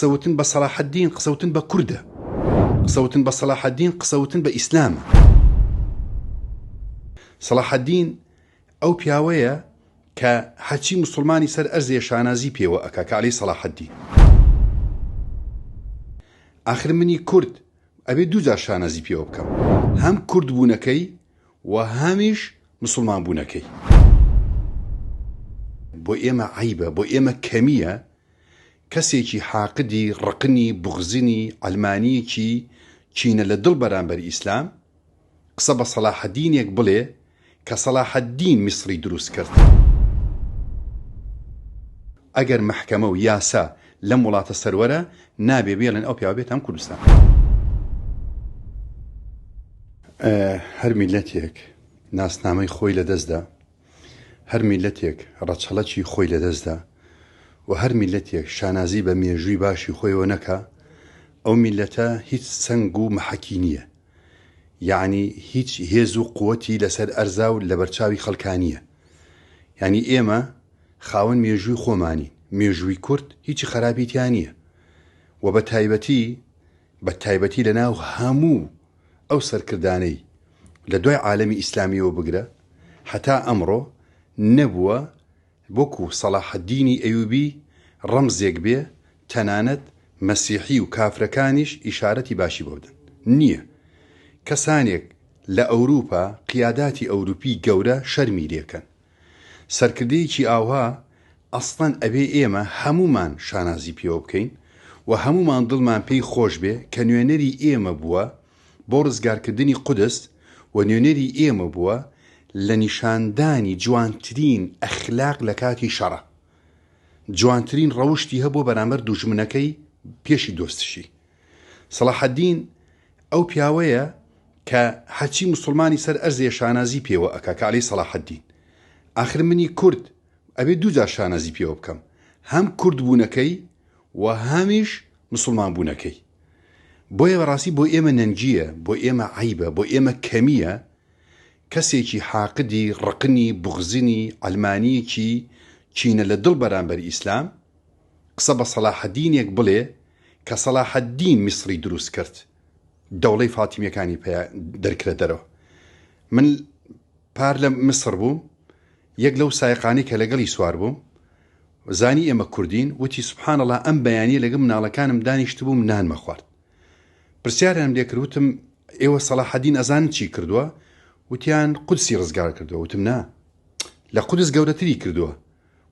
قسە وتن بە سەلاحەدین قسە وتن بە کوردە. قسە وتن بە سەلاحەدین قسە وتن بە ئیسلامە. سەلاحەدین ئەو پیاوەیە کە هەرچی موسڵمانی سەر ئەرزێ شانازی پێوە ئەکا کە عەلی سەلاحەدین. ئاخر منی کورد ئەبێ دوو جار شانازی پێوە بکەم. هەم کورد بوونەکەی و هەمیش موسڵمان بوونەکەی. بۆ ئێمە عەیبە، بۆ ئێمە کەمییە، کەسێکی حاقدی ڕقنی بوغزنی عەلمانیەکی کینە لە دڵ بەرامبەر ئیسلام قسە بە سەلاحەدینێک بڵێ کە سەلاحەدین میسڕی دروست کرد ئەگەر مەحکەمە و یاسا لەم وڵاتە سەروەرە نابێ بێڵێن ئەو پیاوە بێتام کوردستان هەر میلەتێک ناسنامەی خۆی لە دەستدا. هەر میللەتێک ڕەچەڵەکی خۆی لەدەستدا و هەر میللەتێک شانازی بە مێژووی باشی خۆیەوە نەکا ئەو میللەتە هیچ سەنگ و محەکی نییە یەعنی هیچ هێز و قوەتی لەسەر ئەرزا و لەبەرچاوی خەڵکا نییە یەعنی ئێمە خاوەن مێژووی خۆمانی مێژووی کورد هیچی خەراپی تیا نییە و بە تایبەتی بە تایبەتی لەناو هەموو ئەو سەرکردانەی لە دوای عالەمی ئیسلامیەوە بگرە هەتا ئەمڕۆ نەبووە وەکو سەڵاحەدینی ئەیوبی ڕەمزێک بێ تەنانەت مەسیحی و کافرەکانیش ئیشارەتی باشی بۆ بدەن نیە کەسانێک لە ئەوروپا قیاداتی ئەوروپی گەورە شەرمی لێکەن سەرکردەیەکی ئاوها ئەسڵەن ئەبێ ئێمە هەموومان شانازی پێوە بکەین و هەموومان دڵمان پێی خۆش بێ کە نوێنەری ئێمە بووە بۆ ڕزگارکردنی قودس و نوێنەری ئێمە بووە لە نیشاندانی جوانترین ئەخلاق لە کاتی شەڕا جوانترین ڕەوشتی هەبووە بەرامبەر دوژمنەکەی پێشی دۆستشی سەڵاحەدین ئەو پیاوەیە کە هەرچی مسلمانی سەر ئەرزێ شانازی پێوە ئەکا کە ئەلێی سەڵاحەدین ئاخر منی کورد ئەبێ دوو جار شانازی پێوە بکەم هەم کورد بوونەکەی و هەمیش مسلمان بوونەکەی بۆیە بەڕاستی بۆ ئێمە نەنگییە بۆ ئێمە عەیبە بۆ ئێمە کەمییە کەسێکی حاقدی ڕقنی بوغزنی عەلمانییەکی کینە لە دڵ بەرامبەر ئیسلام قسە بە سەلاحەدینێک بڵێ کە سەلاحەدین میسڕی دروست کرد دەوڵەی فاتیمیەکانی پیا دەرکرە دەرەوە من پار لە میسڕ بووم یەک لەو سایقانی کە لەگەڵی سوار بووم زانی ئێمە کوردین وتی سبحانەڵا ئەم بەیانی لەگە مناڵەکانم دانیشت بووم نانمە خوارد پرسیارم لێکروتم ئێوە سەلاحەدین ئەزان چی کردووە وتیان قودسی ڕزگار کردووە وتم نا لە قودس گەورەتری کردووە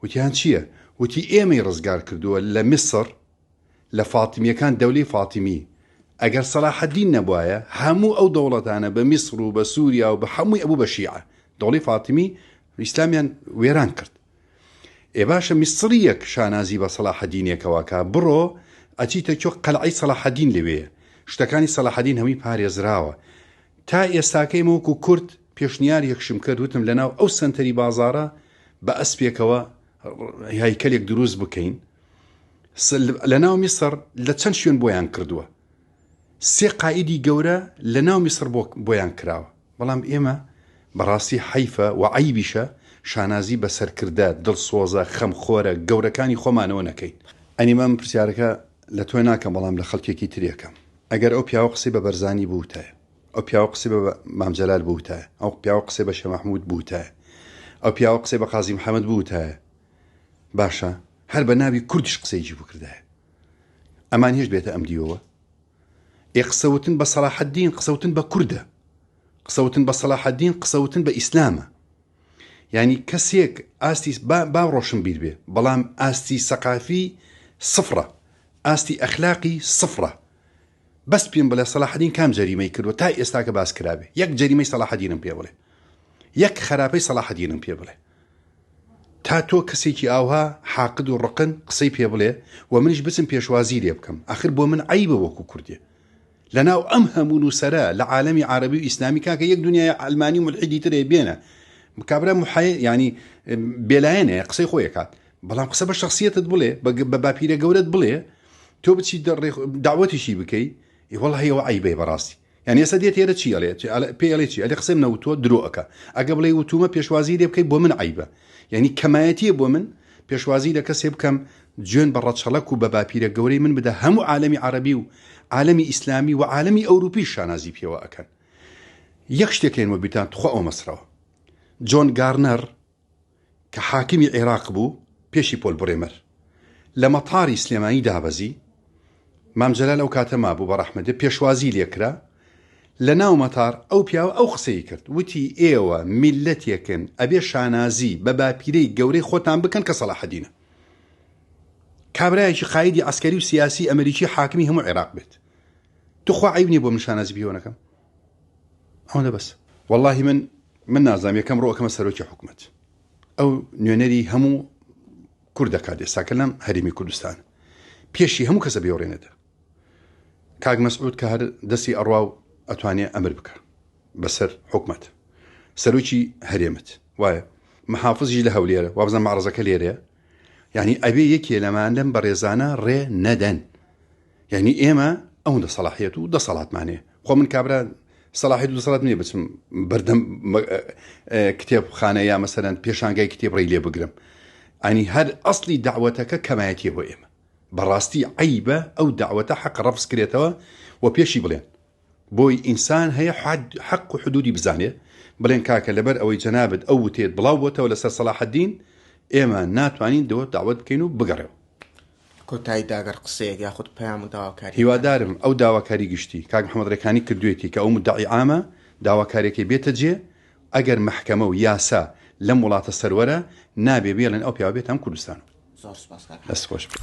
وتیان چیە؟ وتی ئێمەی ڕزگار کردووە لە میسڕ لە فاتمیەکان دەولەی فاتمی ئەگەر سەلاح الدین نەبوایە هەموو ئەو دەوڵەتانە بە میسڕ و بە سوریا و بە هەمووی ئەبوو بە شیعە دەوڵەی فاتمی ئیسلامیان وێران کرد ئێ باشە میسڕیەک شانازی بە سەلاح الدینێکەوە کا بڕۆ ئەچیتە چۆ قەلعەی سەلاح الدین لەوێیە شتەکانی سەلاح الدین هەمووی پارێزراوە تا ئێستاکەی ئێمە وەکو کورد پێشنیارێکشم کرد وتم لەناو ئەو سەنتەری بازاڕە بە ئەسپێکەوە هەیکەلێک دروست بکەین لەناو میسر لە چەند شوێن بۆیان کردووە سێ قائیدی گەورە لە ناو میسر بۆیان کراوە بەڵام ئێمە بەڕاستی حەیفە و عەیبیشە شانازی بە سەرکردە دڵسۆزە خەمخۆرە گەورەکانی خۆمانەوە نەکەین. ئەنی من پرسیارەکە لە تۆ ناکەم بەڵام لە خەڵکێکی ترێکەم ئەگەر ئەو پیاوە قسەی بە بەرزانی بووتایە، ئەو پیاوە قسەی بە مام جەلال بووتایە، ئەو پیاوە قسەی بە شێخ مەحموود بووتایە، ئەو پیاوە قسەی بە قازی محەمەد بووتایە، باشە هەر بە ناوی کوردیش قسەیەکی بکردایە ئەمان هێشت بێتە ئەم دیوەوە؟ ئێ قسەوتن بە سەلاحەدین قسەوتن بە کوردە، قسەوتن بە سەلاحەدین قسەوتن بە ئیسلامە. یانی کەسێک ئاستی با ڕۆشن بیر بێ، بەڵام ئاستی سەقافی سفڕە، ئاستی ئەخلاقی سفڕە، بەس پیم بڵێ سەلاحەدین کام جەریمەی کردوە تا ئێستاکە باس کرابێ یەک جەریمەی سەلاحەدینم پێ بڵێ یەک خەراپەی سەلاحەدینم پێ بڵێ تا تۆ کەسێکی ئاوها حاقد و ڕقن قسەی پێ بڵێ و منیش بچم پێشوازی لێ بکەم ئەخر بۆ من عیبە وەکو کوردێ لەناو ئەم هەموو نووسرە لە عالمی عربی و ئیسلامی کاکە یەک دنیای ئەلمانی ملحیدی ترێ بێنە کابرا محای ینی بێلایەنێ قسەی خۆیەکات بەڵام قسە بە شخصیتت بڵێ بە باپیرە گەورەت بڵێ تۆ بچی داوەتیشی بکەی وڵی ئەوە عیبێ بەڕاستی یان ێستا دێت ێرە چی ئەڵێ پێڵێ چی ئەلێ قسەم نەوتۆ درۆەکە ئەگە بڵێ وتومە پێشوازی لێ بکەی بۆ من عیبە یعنی کەمایەتیە بۆ من پێشوازی لە کەسێ بکەم جوێن بە ڕەچەڵک و بە باپیرە گەورەی من بدە هەموو عالمی عربی و عالمی ئیسلامی و عالمی ئەوروپی شانازی پێوە ئەکەن یەک شتێکێن وە بیتان تخوا ئەو مەسرەوە جۆن گارنەر کە حاکمی عێراق بوو پێشی پۆل برێمەر لە مەتاری سلێمانی دابەزی، مام جەلال ئەو کاتە مابوو بە ڕەحمەتێ پێشوازی لێ کرا لە ناو مەتار ئەو پیاوە ئەو قسەی کرد وتی ئێوە میللەتێکن ئەبێ شانازی بە باپیرەی گەورەی خۆتان بکەن کە سەڵاحەدینە کابرایەکی قایدی عەسکەری و سیاسی ئەمریکی حاکمی هەموو عێراق بێت توخوا عەیب نیە بۆ من شانازی پێوە نەکەم؟ ئەوەندە بەس واللهی من من نازانم یەکەم ڕۆ ئەکەمە سەرۆکی حکومت ئەو نوێنەری هەموو کورد دەکات ئێستاکە لەم هەرمی کوردستان پێشی هەموو کەسە بێوڕێنێتە کاک مەسعود کە هەر دەستی ئەڕوا و ئەتوانێ ئەمر بکە بەسەر حکومت سەرۆکی هەرێمت وایە محافزی لە هەولێرە وابزە مەڕزەکە لێرەیە یعنی ئەبێ یەکێ لەمان لەم بەڕێزانە ڕێ نەدەن یعنی ئێمە ئەوەندە سەلاحیت و دەسەڵاتمانێ خۆ من کابرا سەلاحیت و دەسەڵات نیە بچم بەردەم کتێب خانە یا مەسەرەن پێشانگای کتێب ڕێ لێ بگرم ئەنی هەر ئەسلی داوەتەکە کەمایەتی بۆ ئێمە بەڕاستی عیبە ئەو داوەتە حەق ڕفز کرێتەوە و پێشی بڵێن بۆی ئینسان هەیە حەق و حدودی بزانێ بڵێن کاکە لەبەر ئەوەی جەنابت ئەو وتەیەت بڵاو بۆتەوە لەسەر سەڵاحەدین ئێمە ناتوانین دۆت داوەت بکەین و بگەڕێوە. کۆتایی دا گەر قسەیەک یاخود پەیام و داواکاریەک هەبێ. هیوادارم ئەو داواکاری گشتی کاک محمد رێکانی کردوێتی کە ئەو مدعی عامە داواکاریەکەی بێتە جێ ئەگەر مەحکەمە و یاسا لەم وڵاتە سەروەرە نابێ بێڵێن ئەو پیاوە بێتام کوردستانەوە. زۆر سوپاس کاک حەمە. دەست خۆش بێت.